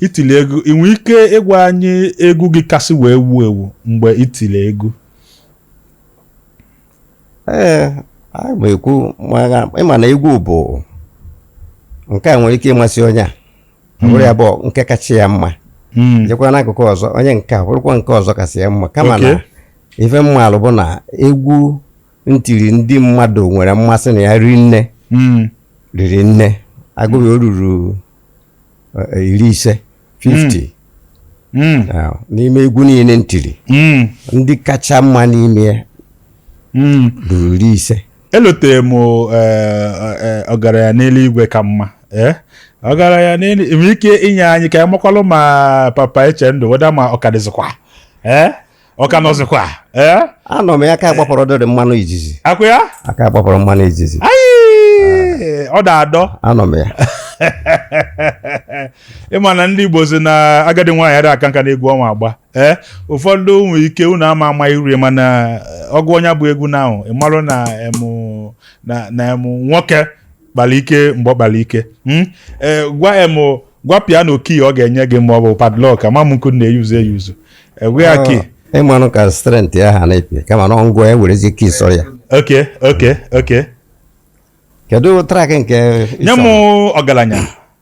I tili egwu ị nwere ike ịgwa anyị egwu gị kasị wee wuo ewu mgbe i tili egwu ee anyị ma ekwu mara ị ma na egwu bụ nke a nwere ike ịmasị onye a ọ bụrụ ya bụ nke kacha ya mma Mm, jekwa n'akụkụ ọzọ onye nke a bụrụkwa nke ọzọ kasị ya mma kama na Okay. ife m malụ bụ na egwu m tiri ndị mmadụ nwere mmasị na ya ri nne mm, riri nne a gụọ ya o ruru eh, iri ise 50 Mm. Ah, n'ime egwu niile m tiri Mm. ndị kacha mma n'ime ya Mm. ruru iri ise elotere m eh, eh, ọgaranya n'eluigwe ka mma eh? ọgaranya n'elu nwere ike inye anyị ka anyị makwalụ ma papa Echendu whether ma ọ ka dịzịkwa eh? ọ ka nọzikwa ee anọ m ya aka gbapọrọ dịrị mmanụ izizi akwa ya aka gbapọrọ mmanụ izizi Ayị! ọ da adọ anọ m ya ị ma na ndị Igbo si na agadi nwaanyị adịghị aka nka n'egwu ọ ma agba ee ụfọdụ nwere ike unu ama ama iru ya mana ọgụ onye bụ egwu na ahụ ị marụ na emu na na emu nwoke kpara ike mgbe ọ kpara ike Hmm? Eh, gwa em o, gwa piano key ọ ga-enye gị ma ọ bụ padlock ama m nke ọ na-eyuzu eyuzu a gwa ya key ị manụ ka strength ya ha na-epi kama na m gwa ya werezi key sọrọ ya okay okay okay kedu track nke nye m ọgaranya